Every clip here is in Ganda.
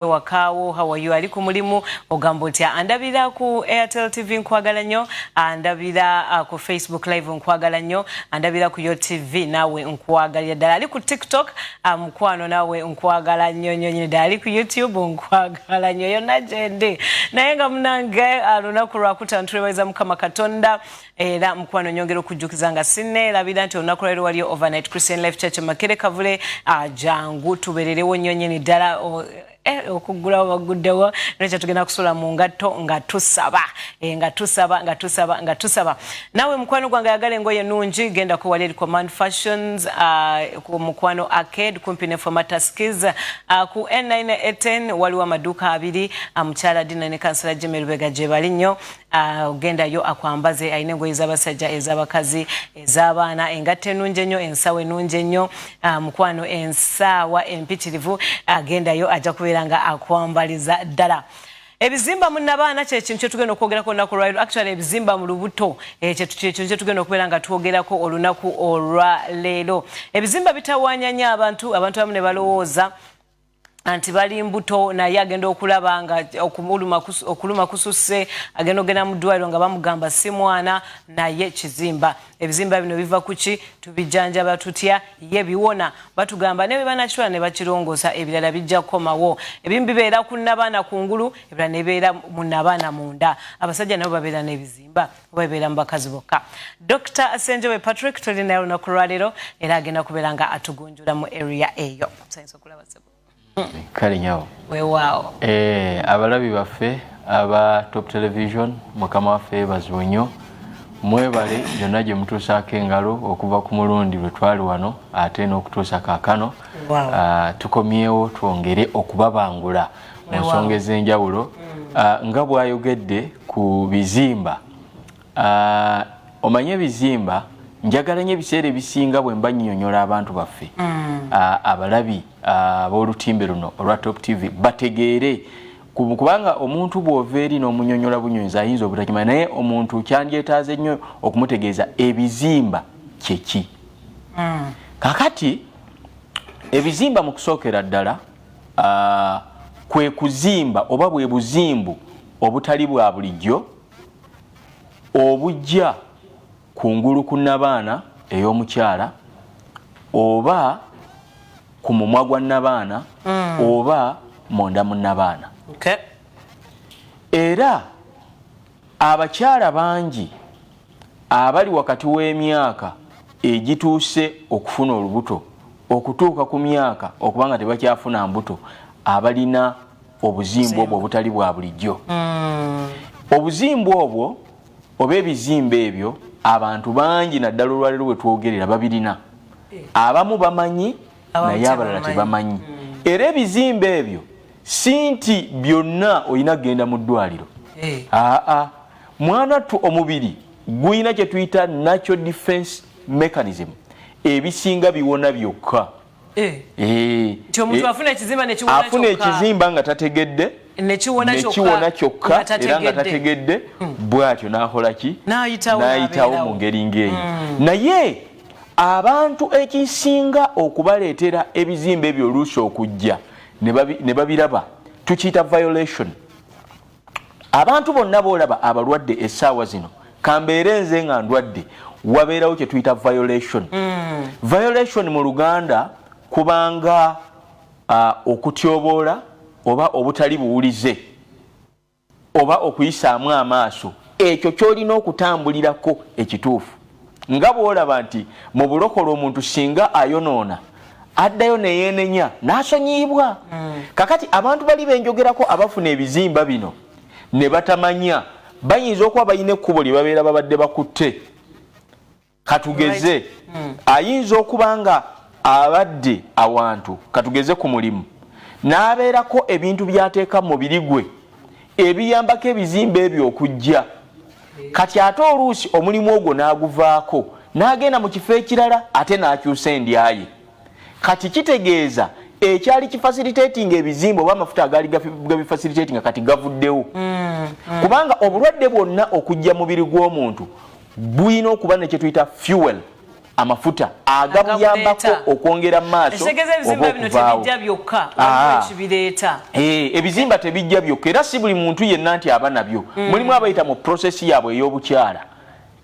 wakaawo hawayo ali ku mulimu ogamba otya andabira ku airtel tv nkwagala nnyo andabira uh, ku facebook live nkwagala nnyo andabira ku yo tv naawe nkwagalira ddala ali ku tiktok uh, mukwano um, naawe nkwagala nnyo nnyo nyini ddala ali ku youtube nkwagala nnyo yonna gyendi naye nga munange uh, lunaku lwakutano tulebaeza mukama katonda era mukwano nyongera okujjukiza nga sinneerabira nti olunaku lwaliro waliyo overnight christian life church makere kavule ajangu ah, tubererewo nnyo nyini ddala eh, okuggulawo baguddewo nekyo tugenda kusula mu ngatto nga tusaba eh, nga tusaba nga tusaba nga tusaba nawe mukwano gwange ayagala engoye nungi genda ku wali command fashions ah, ku mukwano arcade kumpi ne formataskis ah, ku n9 eten waliwo amaduuka abiri mukyala dina ne kansala jimmy lubega gyebali nnyo Ah, ogenda yo akwambaze alina engoye z'abasajja ez'abakazi ez'abaana engatto enungi ennyo ensawo enungi ennyo ah, mukwano ensaawa empitirivu agendayo ajja kubeera nga akwambaliza ddala ebizimba mu nabaana kyekintu kyetugenda okwogerako olunaku olwaliro actually ebizimba mu lubuto eh, kyekintu kyetugenda okubeera nga twogerako olunaku olwaleero ebizimba bitawanya nyo abantu abantu abamu ne balowooza anti bali mbuto naye agenda okulaba nga okuluma kususse agenda ogenda mu ddwaliro nga bamugamba si mwana naye kizimba ebizimba bino biva kuki tubijjanjaba tutya ye biwona batugamba ne bebanakitwala ne bakirongoosa ebirala bijja kukomawo ebimu bibeera ku nabaana ku ngulu ebirala nebibeera mu nabaana munda abasajja nabo babeera n'ebizimba oba bibeera mu bakazi bokka dr asenjobe patrick tolinayo olunaku lwaleero era agenda kubeera nga atugunjula mu area eyo kale nyawo wewaawo eh, abalabi baffe aba top television mukama waffe yebaziwe nnyo mwebale gyonna gye mutuusaako engalo okuva ku mulundi lwe twali wano ate n'okutuusa kaakano ah, tukomyewo twongere okubabangula mu nsonga ez'enjawulo mm. ah, nga bwayogedde ku bizimba Ah, omanyi ebizimba njagala nyo ebiseera ebisinga bwemba nyonyola abantu baffe mm. ah, abalabi ah, abolutimbe luno olwa top tv bategeere kubanga omuntu bwova eri nomunyonyola bunyonzi ayinza obutakima naye omuntu kyandyetaaze nnyo okumutegeeza ebizimba kyeki mm. kakati ebizimba mu kusookera ddala kwe kuzimba oba bwe buzimbu obutali bwa bulijjo obujja kungulu ku nabaana ey'omukyala oba ku mumwa gwa nabaana mm. oba munda mu nabaana okay. era abakyala bangi abali wakati w'emyaka egituuse okufuna olubuto okutuuka ku myaka okubanga tebakyafuna mbuto abalina obuzimbu obwo obutali bwa bulijjo hmm. obuzimbu obwo oba ebizimba ebyo abantu bangi naddala olwaliro bwe twogerera babirina eh. abamu bamanyi naye abalala tebamanyi hmm. era ebizimba ebyo si nti byonna olina kugenda mu ddwaliro eh. aa mwana ttu omubiri gulina kye tuyita natural defense mechanism ebisinga biwona byokka eh. Eh. nti omuntu afuna ekizimba nekiwonafuna ekizimba nga tategedde nekiwona kyokka era nga tategedde hmm. bwatyo nakolaki nayitawo mu ngeri ngaeyo hmm. naye abantu ekisinga okubaleetera ebizimba ebyo oluusi okujja ne babiraba tukiyita violation abantu bonna boolaba abalwadde essaawa zino kambeere nze nga ndwadde wabeerawo kye tuyita violation mm. violation mu luganda kubanga uh, okutyoboola oba obutali buwulize oba okuyisaamu amaaso ekyo kyolina okutambulirako ekituufu nga bwolaba nti mu bulokole omuntu singa ayonoona addayo neyenenya nasonyiyibwa mm. kakati abantu bali benjogerako abafuna ebizimba bino ne batamanya bayinza okuba balina ekkubo lye babeera babadde bakutte katugeze mm. ayinza okuba nga abadde awantu katugeze ku mulimu n'abeerako ebintu byateeka mu mubiri gwe ebiyambako ebizimba ebyo okujja kati ate oluusi omulimu ogwo n'aguvaako n'agenda mu kifo ekirala ate n'akyusa endyaye kati kitegeeza ekyali kifasilitatinga ebizimba oba amafuta agaali gabifasilitatinga kati gavuddewo mm, mm. kubanga obulwadde bwonna okujja mubiri gw'omuntu bulina okuba nekyetuyita fuel amafuta agabuyambako okwongera maaso ah. eh, ebizimba tebijja byokka era si buli muntu yenna nti aba nabyo mm. mulimu abayita mu prosesi yaabwe ey'obukyala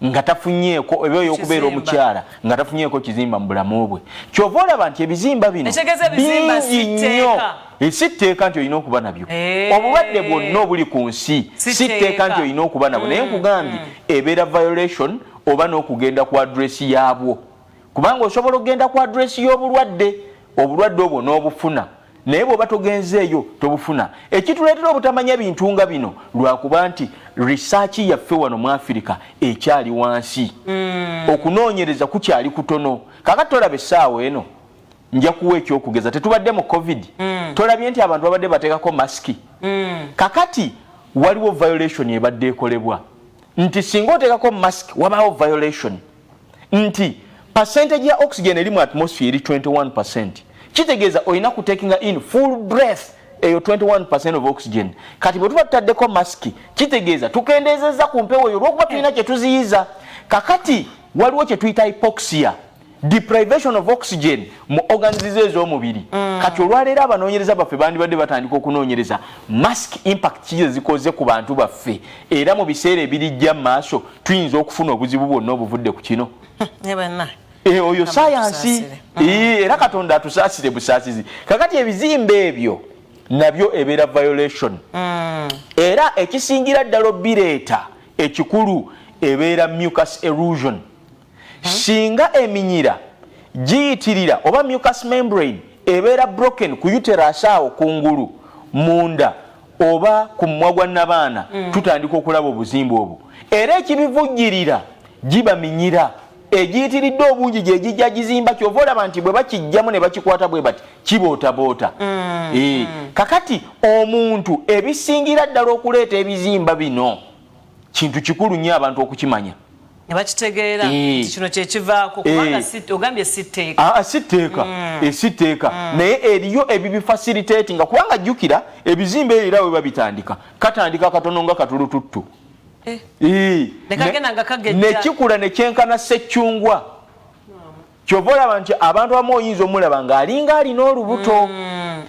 nga tafunyeeko oba ey'okubeera omukyala nga tafunyeeko kizimba mu bulamu bwe kyova olaba nti ebizimba bino bingi nnyo eh, si tteeka nti olina okuba nabyo eh. obulwadde bwonna obuli ku nsi si tteeka nti olina okuba nabwo naye mm. nkugambye mm. ebeera violation oba n'okugenda ku address yaabwo kubanga osobola okugenda ku address y'obulwadde obulwadde obwo n'obufuna naye bw'oba togenzeeyo tobufuna ekituleetera obutamanya bintu nga bino lwakuba nti research yaffe wano mu afirika ekyali wansi mm. okunoonyereza kukyali kutono kaka tolaba essaawa eno nja kuwa ekyokugeza tetubadde mu covid mm. tolabye nti abantu babadde bateekako masiki mm. kakati waliwo violation ebadde ekolebwa nti singa oteekako mask wabaawo violation nti percentage ya oxygen eri mu atmosphere eri 21 percent kitegeeza olina kutekinga in full breath eyo 21 of oxygen kati bwe tuba tutaddeko masiki kitegeeza tukendeezezza ku mpewo eyo olwokuba tulina kye tuziyiza kakati waliwo kye tuyita hypoxia deprivation of oxygen mu organizes ez'omubiri mm. kati olwaleero abanoonyereza baffe bandibadde batandika okunoonyereza mask impact kize zikoze ku bantu baffe era mu biseera ebirijja mu maaso tuyinza okufuna obuzibu bwonna obuvudde ku kino eh, eh, oyo sayansi mm. eh, era katonda atusaasire busaasizi kakati ebizimba ebyo nabyo ebeera violation mm. era ekisingira ddala obireeta ekikulu ebeera mucus erosion Singa eminyira giyitirira oba mucus membrane ebeera broken ku uterus awo kungulu munda oba ku mumwa gwa nabaana mm. tutandika okulaba obuzimba obwo era ekibivujjirira giba minyira egiyitiridde obungi gyegijja gizimba kyova olaba nti bwe bakijjamu ne bakikwata bwe bati kibootaboota mm. e. kakati omuntu ebisingira ddala okuleeta ebizimba bino kintu kikulu nnyo abantu okukimanya nebakitegeera eh. nti kino kyekivaako kubanga eh. ogambye si tteeka ah, ah, si tteeka mm. eh, si tteeka mm. naye eriyo ebibifasilitati nga kubanga jjukira ebizimba ebyo era weba bitandika katandika katono nga katulututtu nekikula nekyenkana seccungwa kyova olaba nti abantu abamu oyinza omulaba ng'alinga alina olubuto mm,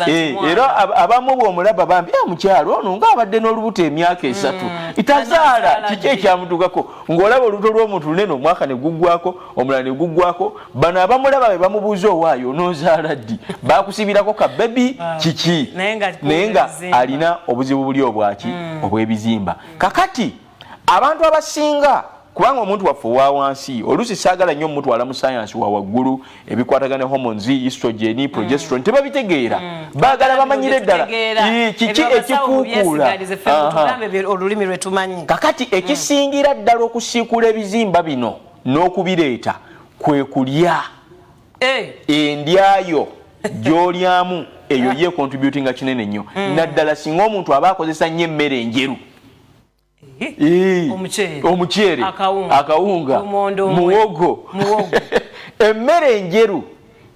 eh, era abamu bwomulaba bambi ah, mukyalo ono ng'abadde n'olubuto emyaka mm, esatu itazaala kiki ekyamudugako ng'olaba olubuto lw'omuntu lunene omwaka ne guggwako omulala ne guggwako bano abamulaba be bamubuuza owaayo onoozaala ddi bakusibirako ka bebi ah, kiki naye nga alina obuzibu buli obwaki mm. obw'ebizimba kakati abantu abasinga kubanga omuntu waffe owa wansi oluusi saagala nnyo omutwala mu sayansi wa waggulu ebikwatagana hormones estrogen mm. progesterone mm. tebabitegeera mm. baagala bamanyire ddala kiki ekikuukuula olulimi lwe tumanyi kakati mm. ekisingira ddala okusiikula ebizimba bino n'okubireeta kwe kulya eh. endyayo gyolyamu eyo eh. ye contributinga kinene nnyo mm. naddala singa omuntu aba akozesa nnyo emmere enjeru omuceere akawunga muwogo emmere enjeru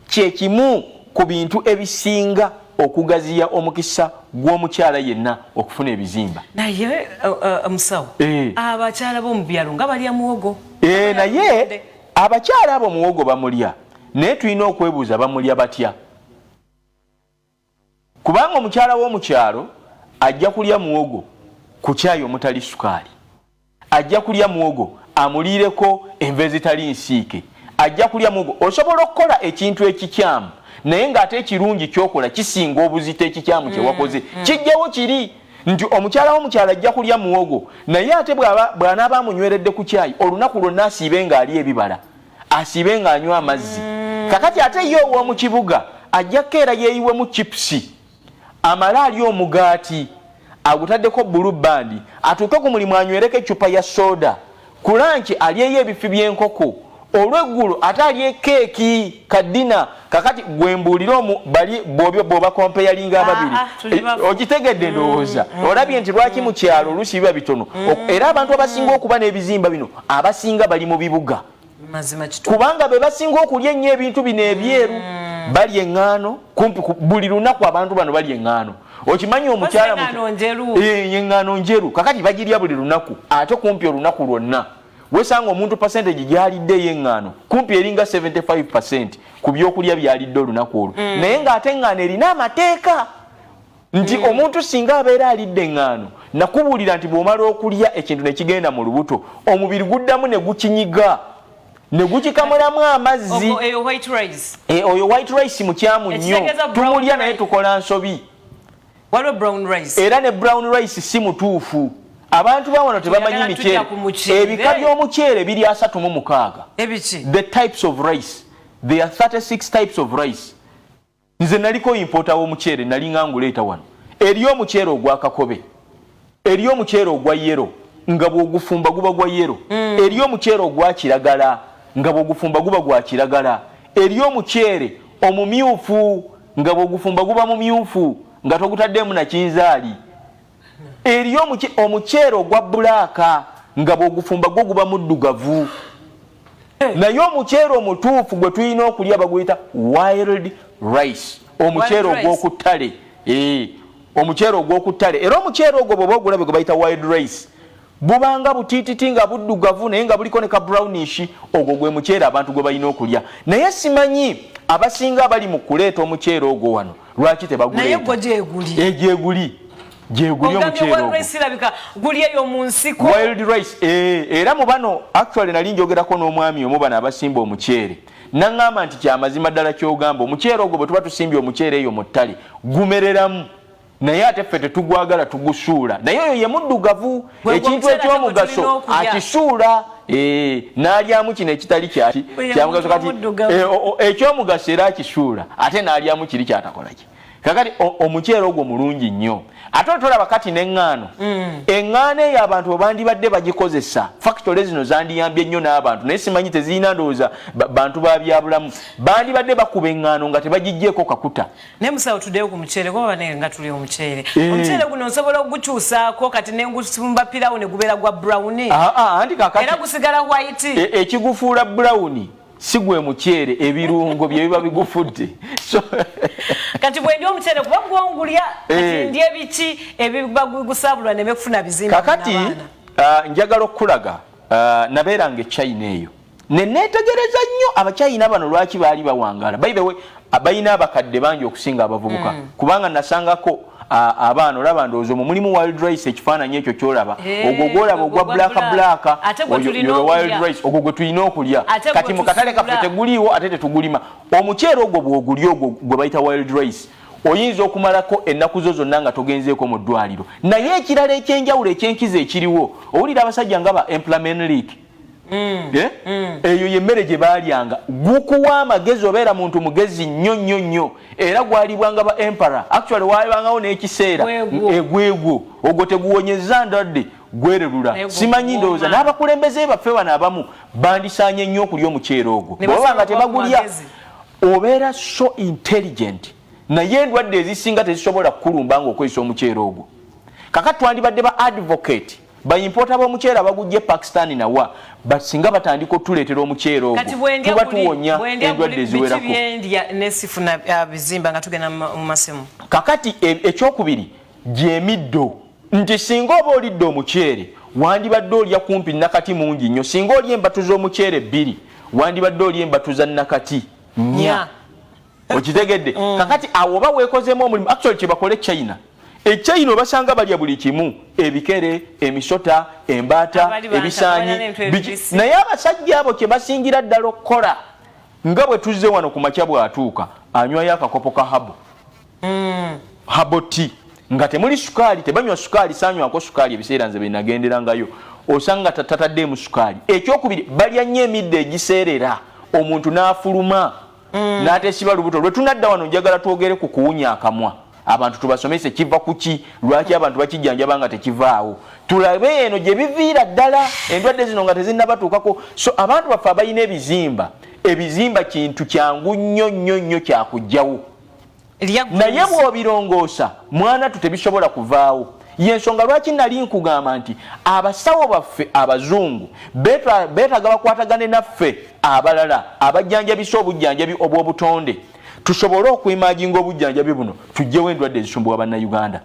kyekimu ku bintu ebisinga okugaziya omukisa gw'omukyala yenna okufuna ebizimba naye uh, uh, musawo eh. abakyala b'omu byalo nga balya muwogo eh, naye abakyala abo muwogo bamulya naye tulina okwebuuza bamulya batya Kubanga omukyala w'omu kyalo ajja kulya muwogo ku caayi omutali sukaali, ajja kulya muwogo amuliireko enva ezitali nsiike, ajja kulya muwogo. Osobola okukola ekintu ekikyamu naye ng'ate ekirungi ky'okola kisinga obuzito ekikyamu kye wakoze. Mm, mm. Kijjawo kiri nti omukyala wo mu kyalo ajja kulya muwogo naye ate bw'anaaba amunyweredde ku caayi olunaku lwonna asiibe ng'alya ebibala. asiibe ng'anywa amazzi mm. kakati ate ye ow'omu kibuga ajja kukeera yeeyiwemu chipusi amale alya omugaati agutaddeko bulu bandi atuuke ku mulimu anywereko eccupa ya sooda ku lanki alyeyo ebifi by'enkoko olweggulo ate alye keeki kaddina kakati gwe mbuulira omu bali bwobyo bwoba kompeyalinga ababiri ah, ah, eh, ogitegedde mm, ndowooza mm. olabye nti lwaki mu kyalo oluusi biba bitono mm. era abantu abasinga okuba n'ebizimba bino abasinga bali mu bibuga kubanga be basinga okulya ennyo ebintu bino ebyeru balya eŋŋaano kumpi buli lunaku abantu bano balya eŋŋaano okimanyi omukyala eŋŋaano eh, njeru kakati bagirya buli lunaku ate kumpi olunaku lwonna wesanga omuntu percentage gyalidde eyeng'ano kumpi eringa 75 ku byokulya byalidde olunaku olwo mm. naye ng'ate eng'ano erina amateeka nti mm. omuntu singa abeera alidde eng'ano nakubuulira nti bw'omala okulya ekintu ne kigenda mu lubuto omubiri guddamu ne gukinyiga ne gukikamulamu amazzi oyo white rice e, mukyamu nnyo tumulya naye tukola nsobi waliwo brown rice era ne brown rice si mutuufu abantu bawano tebamanyi miceere ebika by'omuceere biri asatu mu mukaaga the types of rice there are 36 types of rice nze naliko impota w'omuceere nali nga nguleeta wano eriyo omuceere ogwakakobe Eriyo omuceere ogwa yero nga bw'ogufumba guba gwa yero. Mm. Eriyo omuceere ogwa kiragala nga bw'ogufumba guba gwa kiragala. Eriyo omuceere omumyufu nga bw'ogufumba guba mumyufu nga togutaddeemu na kinzaali. Eriyo omuceere ogwa bulaaka nga bw'ogufumba gwo guba muddugavu. Eh. naye omuceere omutuufu gwe tulina okulya baguyita wild rice omuceere ogwokuttale eh, omuceere ogwokuttale era omuceere ogwo bwoba ogulabe gwe bayita wild rice bubanga butititi nga buddugavu naye nga buliko ne ka brownish ogwo gwe muceere abantu gwe balina okulya naye simanyi abasinga abali mu kuleeta omuceere ogwo wano lwaki tebaguleeta egyeguli gyeguli omuceerogulabika guli eyo mu nsiko wild rice eh, era mu bano actually nali njogerako n'omwami omu bano abasimba omuceere naŋŋamba nti kyamazima ddala kyogamba omuceere ogwo bwe tuba tusimbye omuceere eyo mu ttale gumereramu naye ate ffe tetugwagala tugusuula naye oyo ye muddugavu ekintu ekyomugaso akisuula eh, n'alyamu kino ekitali kyaki kyamugaso kati eh, ekyomugaso era akisuula ate n'alyamu kiri kyatakolaki kakati omuceere ogwo mulungi nnyo ate otolaba kati neŋŋaano mm. eŋŋaano eyo abantu webandibadde bagikozesa fakitole zino zandiyambye nnyo n'abantu naye simanyi tezirina ndowooza bantu ba byabulamu bandibadde bakuba eŋŋaano nga tebagijjeeko kakuta naye musawo tuddeyo ku muceere kuba bane nga tuli omuceere eh. omuceere guno nsobola okugukyusaako kati nengusumba pirawo ne gubeera gwa brown ah, ah, anti kakati era gusigala white e, ekigufuula brown si gwe muceere ebirungo bye biba bigufudde kati bwendi omuceere kuba gwongulya kati eh. ndi ebiki ebibagusabulwa neme kufuna bizimba kakati ah, njagala okukulaga ah, nabeeranga echina eyo neneetegereza nnyo abachina bano lwaki baali bawangala by the way abalina abakadde bangi okusinga abavubuka mm. kubanga nasangako abaana olaba ndowooza omwo mulimu wild rice ekifaananyi ekyo kyolaba ogwo gwolaba ogwa black black wild rice ogwo gwe tulina okulya kati mu katale kaffe teguliiwo ate tetugulima omuceere ogwo bwogulya ogwo gwe bayita wild rice oyinza okumalako ennaku zo zonna nga togenzeeko mu ddwaliro naye ekirala ekyenjawulo ekyenkizo ekiriwo owulira abasajja nga ba emplamen league mm. Eh? Mm. eyo yemmere gye baalyanga gukuwa amagezi obeera muntu mugezi nnyo nnyo nnyo era gwalibwanga ba empara actually waabangawo n'ekiseera egwegwo ogwo teguwonyeza ndwadde gwererula simanyi ndowooza n'abakulembeze baffe bano abamu bandisaanye nnyo okulya omuceera ogwo bwebaba nga tebagulya obeera so intelligent naye endwadde ezisinga tezisobola kukulumba nga okozesa omuceera ogwo kakati twandibadde ba advocate bayimpoota b'omuceere abagujja e pakistan nawa but singa batandika otuleetera omuceere ogwo tuba tuwonya endwadde eziwerako uh, kakati e, ekyokubiri gyemiddo nti singa oba olidde omuceere wandibadde olya kumpi nakati mungi nnyo singa olya embatu z'omuceere bbiri wandibadde olya embatu za nakati nya okitegedde mm. kakati awo oba weekozeemu omulimu actually kyebakole china echina obasanga balya buli kimu ebikere emisota embaata ebisanyi naye abasajja abo kyebasingira ddala okukola nga bwe tuzze wano ku makya bw'atuuka anywayo akakopo ka habo mm. habo ti nga temuli sukaali tebanywa sukaali sanywako sukaali ebiseera nze byenagenderangayo osanga tataddeemu sukaali ekyokubiri balya nnyo emidde egiseerera omuntu n'afuluma mm. n'ateesiba lubuto lwe tunadda wano njagala twogere ku kuwunya akamwa abantu tubasomese kiva kuki lwaki abantu bakijjanjaba nga tekivaawo tulabe eno gye biviira ddala endwadde zino nga tezinnabatuukako so abantu baffe abalina ebizimba ebizimba kintu kyangu nnyo nnyo nnyo kyakugjawo naye bw'obirongoosa mwana tu tebisobola kuvaawo yensonga lwaki nali nkugamba nti abasawo baffe abazungu beetaga bakwatagane naffe abalala abajjanjabisa obujjanjabi obw'obutonde tusobole okuimaginga obujjanjabi buno tujjewo endwadde ezisumbuwa bannayuganda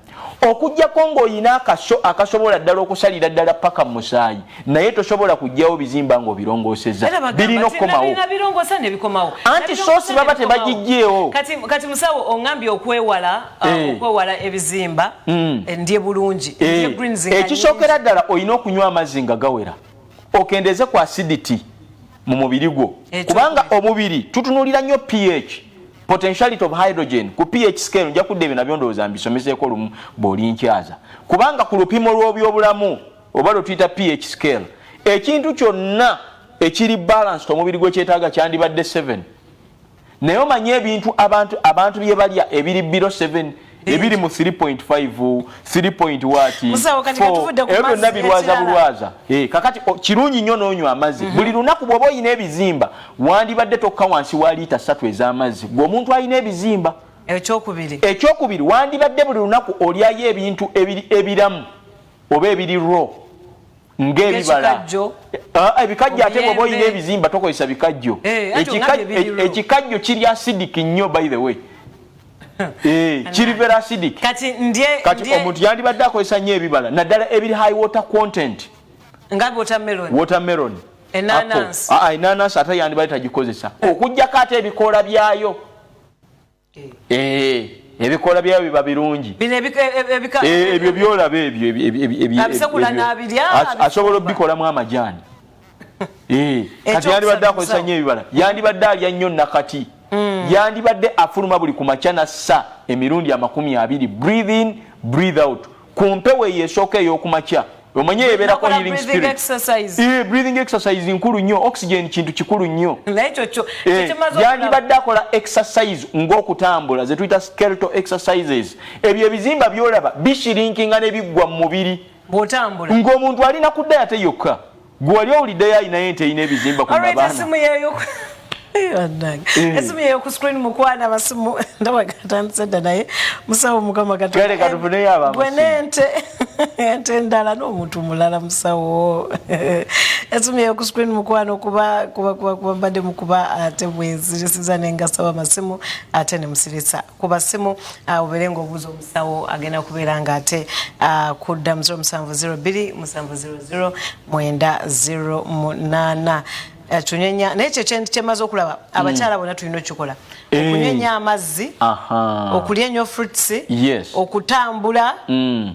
Okujjako ng'oyina akaso akasobola ddala okusalira ddala ppaka mu musaayi, naye tosobola kuggyawo bizimba ng'obirongoosezza. Birina okukomawo. Anti soosi baba tebagiggyeewo. Kati musawo ongambye okwewala uh, eh. okwewala ebizimba hmm. eh, ndye bulungi. Eh. Ekisookera ddala olina okunywa amazzi nga gawera, okendeeze ku acidity. mu mubiri gwo kubanga omubiri tutunulira nnyo ph potentiality of hydrogen ku ph scale nja kudda ebyo nabyo ndowooza mbisomeseeko lumu bw'olinkyaza kubanga ku lupimo lw'obyobulamu oba lwe tuyita ph scale ekintu kyonna ekiri balanced omubiri gwekyetaaga kyandibadde 7 naye omanyi ebintu abantu abantu bye balya ebiri biro 7 ebiri mu 3.5 3.1 ebyo byonna birwaza bulwaza eh, kakati kirungi nnyo n'onywa amazzi mhm. buli lunaku bw'oba olina ebizimba wandibadde tokka wansi wa liita satu ez'amazzi gwe omuntu alina ebizimba ekyokubiri ekyokubiri wandibadde buli lunaku olyayo ebintu ebiramu oba ebiri raw ng'ebibala ah, ebikajjo ate bwoba olina ebizimba tokozesa bikajjo eh, e- ekikajjo kiri acidic nnyo by the way eh, kiri very acidic kati omuntu yandibadde akozesa nnyo ebibala naddala ebiri high water content nga watermelon watermelon enanansi ah, ah, ate yandibadde tagikozesa okujjako ate ebikoola byayo eh. ebikoola byayo biba birungi e- e- e- ebyo byolaba ebyo asobola obikolamu amajaani kati yandibadde akozesa nyo ebibala yandibadde alya nnyo nakati mm. yandibadde afuluma buli ku makya nassa emirundi amakumi abiri breathe in breathe out ku mpewo eyo esooka ey'okumakya omanyi eyeberako healing spirit eh, breathing exercise nkulu nnyo oxygen kintu kikulu nnyo eh, yandibadde akola exercise ng'okutambula ze tuyita skelto exercises ebyo ebizimba byolaba bishirinkinga ne biggwa mu mubiri ng'omuntu alina kudda yate yokka Gwe wali owuliddeyo alinayo ente erina ebizimba ku mabaana? Esimu yeeyo esimu yeeyo ku screen mukwana abasimu ndaba gatandise dda naye musawo mukama katugale katufuneyo aba gwe n'ente ente endala n'omuntu mulala musawo esimu yeeyo ku screen mukwano kuba kuba kuba kuba mbadde mukuba ate bwezirisiza ne ngasaba amasimu ate ne musirisa ku basimu uh, ubeere ng'obuuza omusawo agenda kubeera nga ate uh, kudda mu 0702 700 908 Eh, tunyenya naye ekyo kyemaze okulaba mm. abakyala bona tulina okikola eh. okunyenya amazzi okulya enyo fruits okutambula mm.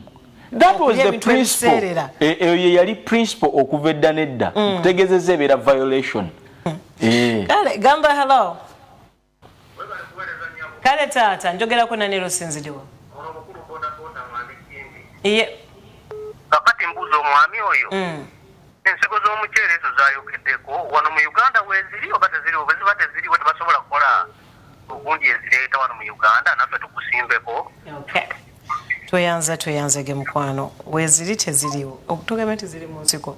that was the principle eh, eyo ye yali principle okuva edda nedda mm. okutegezeza ebeera violation kale gamba hello kale taata njogerako nanero sinzidiwa iye kakati mbuuza omwami oyo mm. ensigo z'omuceere ezo zayogeddeko wano mu uganda weziri oba teziriwo bwe ziba teziriwo tebasobola kukola ogundi ezireeta wano mu uganda naffe tukusimbeko tweyanza tweyanzege mukwano weziri teziriwo okutugambye teziri mu nsiko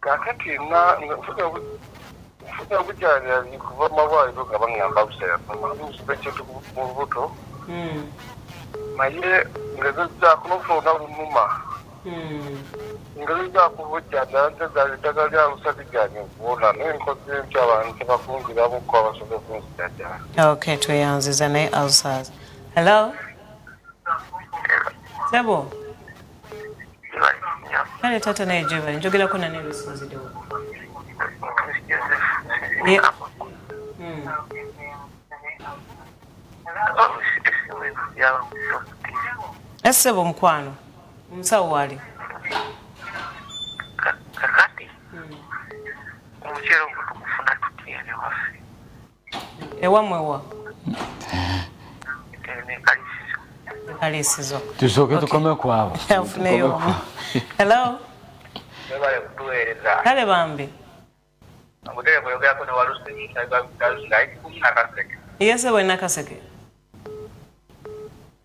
kakati nfuna obujanjabi kuva mumalwaliro nga baŋamba busayaaekyetu mu lubuto hmm. naye ngezezzaako nofuna olunaku lunuma hmm. ngezezzaako obujjanjaba ntezaali eddagala lya lusa liganye okuwona naye nkoze nti abantu tebakunziramuko abasobola okunzijajaa ok tweyanziza naye alsas hello sebo kale taata naye gyebali njogerako nani ebisinzidewo esebo omukwano omusawo waali ewamwe wa kalisizo tusooke tukome kwabo afuneyo hello kale bambi yese bwe nakaseke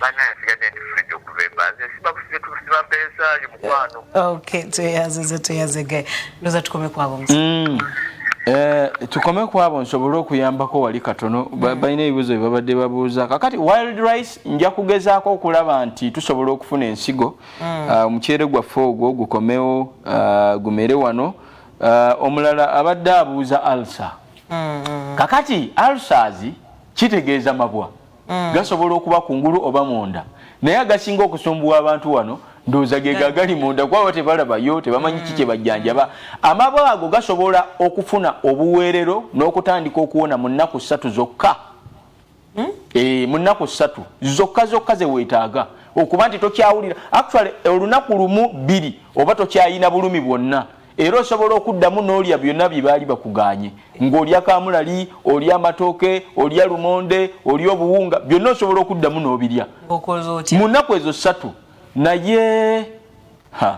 banaye nsigadde ndi fridge okuva embanze sibakusize tusiba mpeesa yo mukwano okay tweyazize tweyazege ndoza tukome kwabo mm. Eh, tukome kwabo nsobole okuyambako wali katono mm. balina ebibuzo byebabadde babuuza kakati wild rice nja kugezaako okulaba nti tusobola okufuna ensigo mm. ah, omuceere gwaffe ogwo gukomewo ah, gumere wano ah, omulala abadde abuuza alsa mm, kakati alsas kitegeeza mabwa mm. gasobola okuba kungulu oba munda naye agasinga okusumbuwa abantu wano ndowooza ge gagali munda kubaba tebalabayo tebamanyi ki kyebajjanjaba mm. amabo ago gasobola okufuna obuweerero n'okutandika okuwona mu nnaku ssatu zokka mm? e, mu nnaku ssatu zokka zokka zeweetaaga okuba nti tokyawulira actually olunaku lumu bbiri oba tokyayina bulumi bwonna era osobola okuddamu n'olya byonna bye baali bakugaanye ng'olya kaamulali olya amatooke olya lumonde olya obuwunga byonna osobola okuddamu n'obirya mu nnaku ezo ssatu naye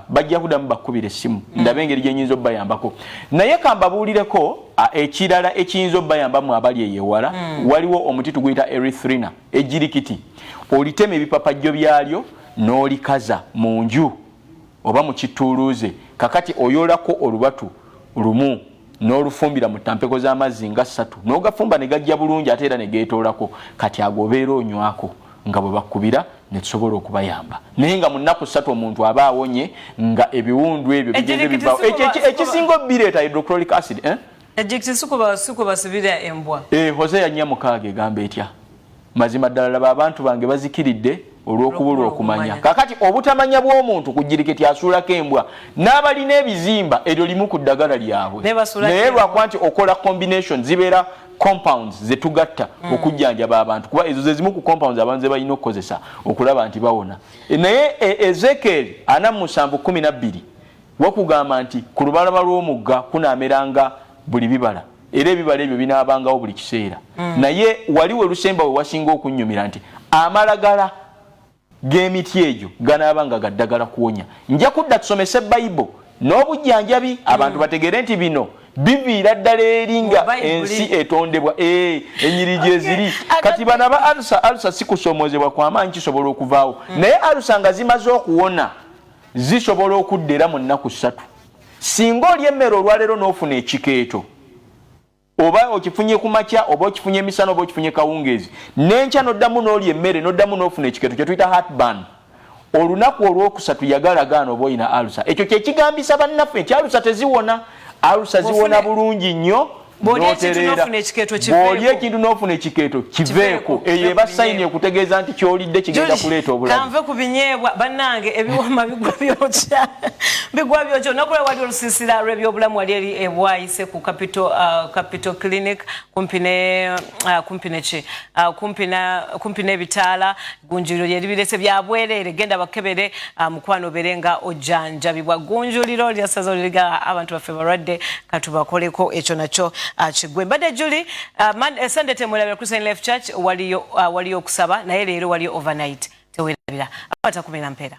bajja kuddamu bakkubira essimu hmm. ndaba engeri gye nyinza obubayambako naye kambabuulireko ekirala ekiyinza obubayambamu abali eyewala hmm. waliwo omuti tuguyita erithrina ejirikiti olitema ebipapajjo byalyo n'olikaza mu nju oba mu kittuuluuze kakati oyolako olubatu lumu n'olufumbira mu tampeko z'amazzi nga ssatu n'ogafumba ne gajja bulungi ate era ne geetoolako kati ago obeera onywako nga bwe bakubira ne tusobola okubayamba naye nga mu nnaku ssatu omuntu aba awonye nga ebiwundu ebyo bigenze bivawo ekisinga obireeta hydrochloric acid eh? ekyo kisukuba sikuba sibira embwa eh, hosea nnya mukaaga egamba etya mazima ddala laba abantu bange bazikiridde olw'okubulwa okumanya kakati obutamanya bw'omuntu ku jiriketi asuulako embwa n'abalina ebizimba eryo limu ku ddagala lyabwe naye lwakuba nti okola combination zibeera compounds zetugatta mm. okujjanjaba abantu kuba ezo zezimu ku compounds abantu zebalina okukozesa okulaba nti bawona e, naye e, ezekeeri ana musanvu kumi nabbiri wakugamba nti ku lubalaba lw'omugga kunaameranga buli bibala era ebibala ebyo binaabangawo buli kiseera mm. naye wali we lusemba we wasinga okunnyumira nti amalagala g'emiti egyo ganaaba nga gaddagala kuwonya nja kudda tusomese bayibo n'obujjanjabi abantu mm. bategeere nti bino biviira ddala eri nga ensi etondebwa eh, enyiri gyeziri kati bana ba alusa alusa sikusomozebwa kwamaanyi kisobola okuvaawo mm. naye alusa nga zimaze okuwona zisobola okudda era mu nnaku ssatu Singa olya emmere olwaleero n'ofuna ekikeeto, oba okifunye ku makya, oba okifunye emisana, oba okifunye kawungeezi, n'enkya n'oddamu n'olya emmere, n'oddamu n'ofuna ekikeeto, kye tuyita heartburn, olunaku olwokusatu yagala gaana oba olina alusa. Ekyo kye kigambisa bannaffe nti alusa teziwona. Alusa ziwona bulungi nnyo bw'olya ekintu n'ofuna ekikeeto kiveeko eyo eba sayini okutegeeza nti ky'olidde kigenda kuleeta obulamukanve ku binyeebwa bannange ebiwoma bigwa byokya bigwa byokya olunaku lwe wali olusiisira lw'ebyobulamu wali eri ebwayise ku capital uh, clinic kumpi ne uh, kumpi neki uh, kumpi n'ebitaala gunjuliro lye libirese bya bwerere genda bakebere uh, mukwano obere nga ojjanjabibwa gunjuliro lya ssaza oliriga abantu baffe balwadde katubakoleko ekyo nakyo uh, kigwe mbadde juli uh, sunday temwerabira christian life church waliyo, uh, waliyo okusaba naye leero waliyo overnight tewerabira akwata kumera mpeera